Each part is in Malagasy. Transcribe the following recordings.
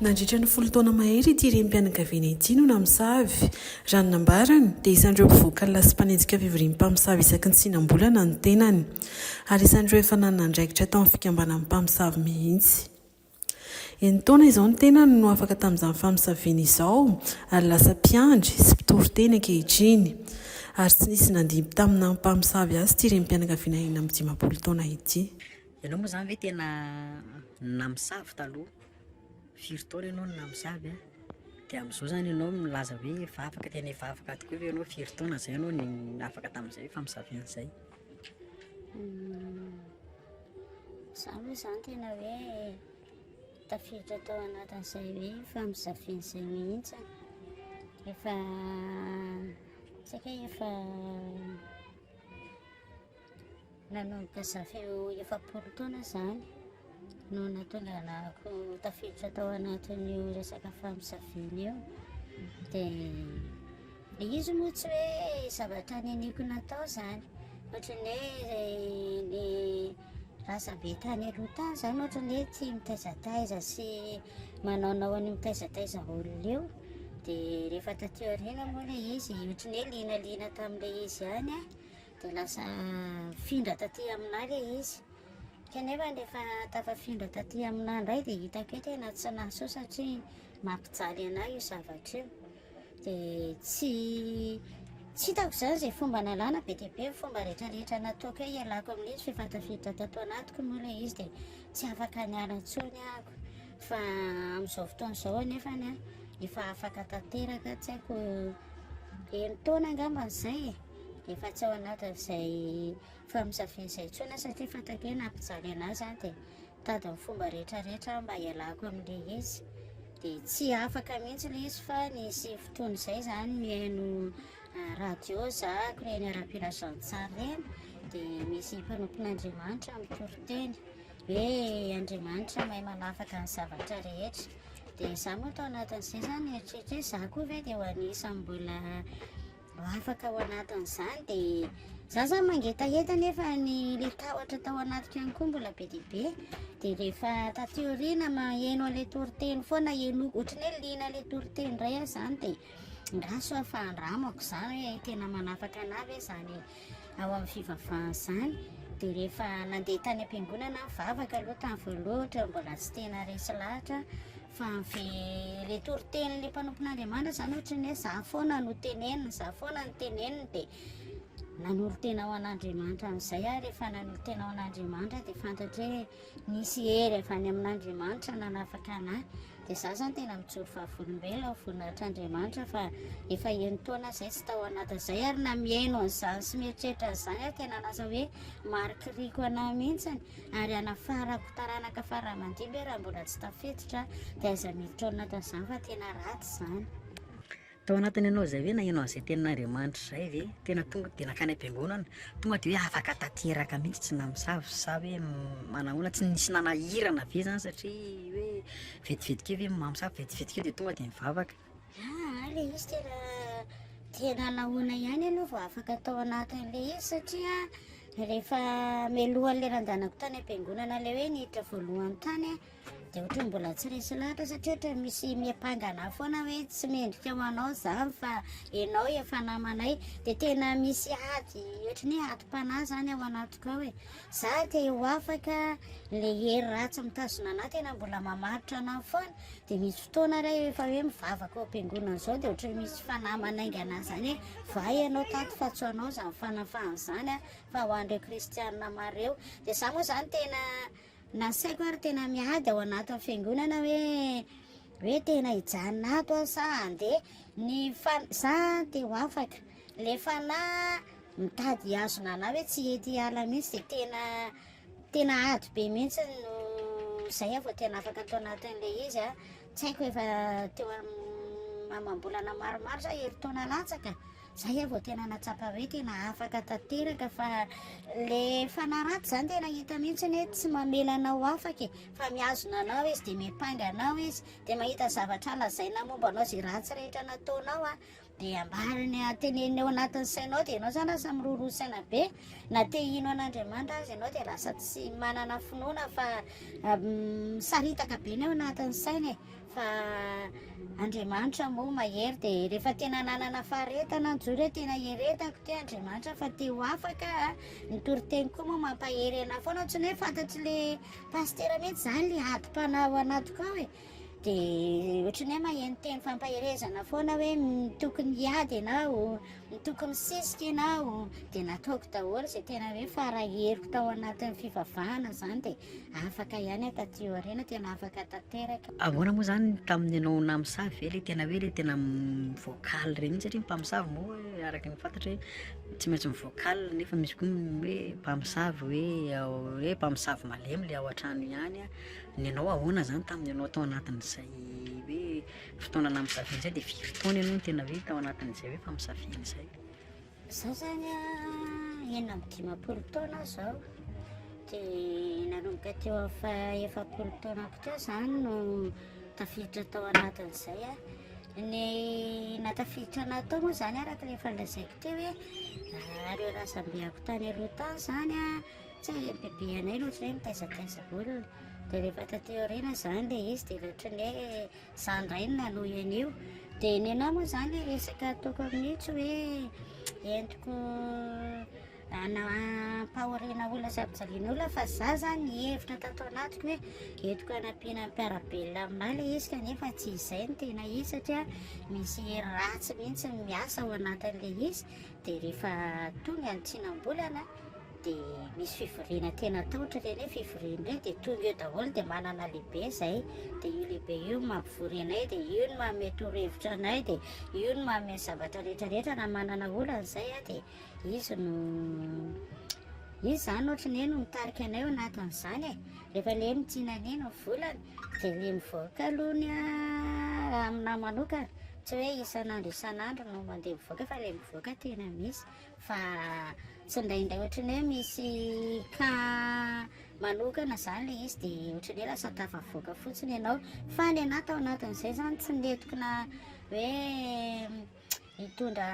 Nandritra ny folo taona mahery ity renim-pianakaviana ity no namosavy. Raha ny nambarany, dia isan'ireo mpivoaka alina sy mpanenjika fivorian'ny mpamosavy isaky ny tsinam-bolana ny tenany. Ary isan'ireo efa nanana andraikitra tao amin'ny fikambanan'ny mpamosavy mihitsy. Enin-taona izao ny tenany no afaka tamin'izany famosaviana izao, ary lasa mpiandry sy mpitoriteny ankehitriny. Ary tsy nisy nandimby tamin'ny naha-mpamosavy azy ity renim-pianakaviana enina amby dimampolo taona ity. Ianao moa zany ve tena namosavy taloha? Firy taona ianao no namosavy an? De amzao zany ianao milaza hoe efa afaka tena efa afaka tokoa ve ianao? Firy taona zay ianao no afaka tamzay famosaviana an'zay? Za moa zany tena hoe tafiditra tao anatin'izay hoe famosaviana izay mihitsy an. Efa saika efa Nanomboka zavy eo efapolo taona izany no nahatonganako tafiditra tao anatin'io resaka famisaviana io. Dia ilay izy moa tsy hoe zavatra niniako natao izany. Ohatran'ny hoe ny razambe tany aloha tany izany ohatran'ny hoe tia mitaizataiza sy manaonao an'io mitaizataiza olona io. Dia rehefa taty aoriana moa ilay izy, ohatran'ny hoe liana liana tamin'ilay izy ihany aho. Dia lasa nifindra taty aminà ilay izy. Kanefa rehefa tafafindra taty aminà indray dia hitako hoe tena tsy nahasoa satria mampijaly anà io zavatra io. Dia tsy tsy hitako izany izay fomba nalàna be dia be ny fomba rehetrarehetra nataoko hoe hialako amin'izy f'efa tafiditra tato anatiko moa ilay izy dia tsy afaka niala intsony ahako. Fa amin'izao fotoana izao anefa efa afaka tanteraka tsy haiko enin-taona angamba izay e. Efa tsy ao anatin'izay famisafisain'izay intsony aho satria fantako hoe na mpijaly an'ahy aza aho dia mitady ny fomba rehetrarehetra aho mba hialako amin'ilay izy. Dia tsy afaka mihitsy ilay izy fa nisy fotoana izay izany mihaino ah, radio zahako ireny ara-pilazantsara ireny dia misy mpanompon'Andriamanitra mitoriteny hoe Andriamanitra mahay manafaka ny zavatra rehetra. Dia izaho moa tao anatin'izay izany nieritreritra hoe izaho koa ve dia ho anisan'ny mbola Ho afaka ao anatin'izany dia za zany mangetaheta nefa ny le tahotra tao anatiko ihany koa mbola be dia be dia rehefa taty aoriana maheno an'ilay toriteny foana henoko ohatran'ny hoe liana ilay toriteny indray aho zany dia nga sao efa andramako za hoe tena manafaka anah ve zany ao amin'ny fivavahana zany dia rehefa nandeha tany am-piangonana aho vavaka aloha tany voalohatra mbola tsy tena resy lahatra Fa ilay toritenin'ilay mpanompon'Andriamanitra izany ohatra ny hoe izaho foana no tenenina, izaho foana no tenenina dia nanolo-tena ho an'Andriamanitra amin'izay aho. Rehefa nanolo-tena ho an'Andriamanitra dia fantatro hoe nisy hery avy any amin'Andriamanitra nanafaka anahy. Dia izaho izany tena mijoro vavolombelona ho voninahitr'Andriamanitra fa efa enin-taona izay tsy tao anatin'izay ary na mihaino an'izany sy mieritreritra an'izany aho dia nanasa hoe marikiriko anahy mihitsy. ary hanafarako taranaka faramandimby raha mbola tsy tafiditra dia aiza miditra ao anatin'izany fa tena ratsy izany. Tao anatin' ianao izay ve naheno an'izay tenin'Andriamanitra izay ve? Tena tonga dia nankany am-piangonana, tonga dia hoe afaka tanteraka mihitsy tsy namosavy sa hoe manahoana, tsy nisy nanahirana ve izany satria hoe vetivety kely hoe mamosavy, vetivety kely dia tonga dia nivavaka. Aah ary le izy tena tena nahoana ihany aloha vao afaka tao anatin'ilay izy satria rehefa melohan'ny leran-danako tany am-piangonana ilay hoe niditra voalohany tany aho dia ohatra ny mbola tsy resy lahatra satria ohatra ny misy miampangana ahy foana hoe tsy mendrika ho anao izany fa ianao efa namanay dia tena misy ady ohatra ny hoe adim-panahy izany ao anatiko ao e za te ho afaka ilay hery ratsy mitazona anah tena mbola mamaritra anah foana dia misy fotoana re efa hoe mivavaka ao am-piangonana izao dia ohatran'ny misy fanahy manaingana an'izany hoe vay ianao tato fa tsy ho anao izany fanafahana izany fa ho an'ireo kristianina maro ireo dia izaho moa izany tena nasaiko ary tena miady ao anatin'ny fiangonana hoe hoe tena hijanona ato aho sa handeha ny fa za te ho afaka le fanahy mitady hihazona anah hoe tsy hety hiala mihitsy dia tena Tena ady be mihitsy no zay ah vao tena afaka tao anatin'ilay izy ah. Tsy haiko efa teo amin'ny amam-bolana maromaro sa herintaona latsaka. Zay ah vao tena nahatsapa hoe tena afaka tanteraka fa le fanaratsy zany tena hita mihitsy hoe tsy mamela anao afaka e. Fa mihazona anao izy dia miampanga anao izy dia mahita zavatra lazaina momba anao izay ratsy rehetra nataonao ah. Dia ambara ny hateneniny ao anatin'ny sainao dia ianao izany lasa miroroa saina be. Na te hino an'Andriamanitra aza ianao dia lasa tsy manana finoana fa misaritaka be ny ao anatin'ny saina e. Fa Andriamanitra moa mahery dia rehefa tena nanana faharetana ny jory hoe tena hieretako ty Andriamanitra fa te ho afaka ny toriteny koa moa mampahery anah foana tsy hoe fantatry le pasitera mihitsy zany le adim-panahy ao anatiko ao e. dia ohatran'ny hoe maheno teny fampaherezana foana hoe tokony hiady ianao, tokony misisika ianao, dia nataoko daholo izay tena hoe faraheriko tao anatin'ny fivavahana izany dia afaka ihany aho taty aoriana, tena afaka tanteraka. Ahoana moa izany tamin'ny ianao namisavy ve ilay tena hoe ilay tena vocal ireny mihitsy satria ny mpamosavy moa araka ny fantatra hoe tsy maintsy mivocal nefa misy koa ny hoe mpamosavy hoe hoe mpamosavy malemy ilay ao an-trano ihany an. Nianao ahoana zany tamin'ny anao tao anatin'izay hoe fotoana na misafidy zay de firy taona ianao no tena hoe tao anatin'izay hoe fa misafidy zay? Za zany a enina amby dimampolo taona zao de nanomboka teo amin'ny faha efapolo taonako teo zany no tafiditra tao anatin'izay a ny natafiditra anah tao moa zany araka le efa nolazaiko teo hoe nareo razambeako tany aloha tany zany a Tsy hay ny bebe anay aloha tsy hoe mitaizataiza olona, dia rehefa taty aoriana izany ilay izy dia ohatry ny hoe izaho indray no nanohy an'io, dia nenaha moa izany ilay resaka ataoko amin'io tsy hoe entiko hampahoriana olona sy hampijaliana olona fa izaho izany nihevitra tato anatiko hoe entiko hanampiana ny mpiara-belona aminahy ilay izy kanefa tsy izay no tena izy satria misy hery ratsy mihitsy miasa ao anatin'ilay izy dia rehefa tonga ny tsinam-bolana dia misy fivoriana tena tahotra ilay hoe fivoriana hoe dia tonga eo daholo dia manana lehibe izay dia io lehibe io mampivory anay dia io no manome torohevitra anay dia io no manome ny zavatra rehetrarehetra na manana olana izay a dia izy no izy izany ohatra ny hoe no mitarika anay ao anatin'izany e rehefa ilay hoe mitsinanay no volana dia ilay mivoaka aloha ny a raha aminahy manokana tsy hoe isan'andro isan'andro no mandeha mivoaka fa ilay mivoaka tena misy fa tsy indraindray ohatran'ny hoe misy cas manokana zany le izy de ohatran'ny hoe lasa tafavoaka fotsiny ianao fa ny anah tao anatin'izay zany tsy nentokona hoe hitondra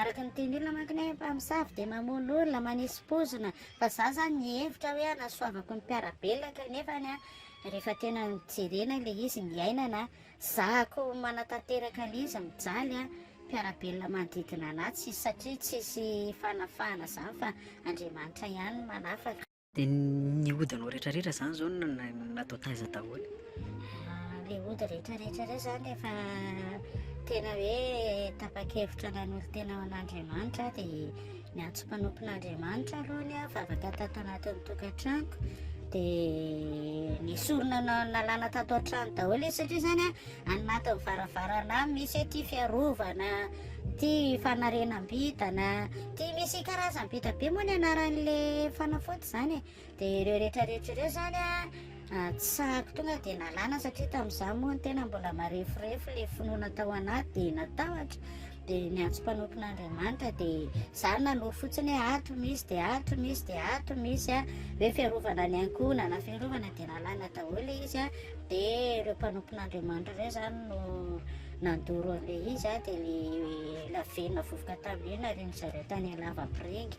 araka ny teny olona manko ny hoe mpamosavy de mamono olona manisy pozina fa za zany nihevitra hoe hanasoavako ny mpiara-belona kanefa ny ahy rehefa tena nijerena le izy niainana Zahako manatanteraka an'iza mijaly a, mpiara-belona manodidina anah tsisy satria tsisy fanafahana zany fa Andriamanitra ihany no manafaka. De ny odinao rehetra rehetra zany zao natao taiza daholo? Ahh le ody rehetra rehetra reo zany rehefa tena hoe tapa-kevitra nanolo-tena ho an'Andriamanitra aho de. Ny antso mpanompon'Andriamanitra aloha ny ahy vavaka tato anatin'ny tokantranoko dia ny sorona nalana tato an-trano daholo izy satria izany a any anatin'ny varavarana any misy hoe ity fiarovana ity fanarenam-bintana ity misy karazam-binta be moa ny anaran'ilay fanafody izany e Dia ireo rehetra rehetra ireo izany an, tsy sahako tonga dia nalana satria tamin'izaho moa ny tena mbola mareforefo ilay finoana tao anaty dia natahotra dia niantso mpanompon'Andriamanitra dia izaho nanoro fotsiny hoe ato misy dia ato misy dia ato misy a hoe fiarovana ny ankohonana fiarovana dia nalana daholo ilay izy a dia ireo mpanompon'Andriamanitra ireo izany no nandoro an'ilay izy a dia ilay lavenona vovoka tamin'iny narian'izareo tany Alavapiringa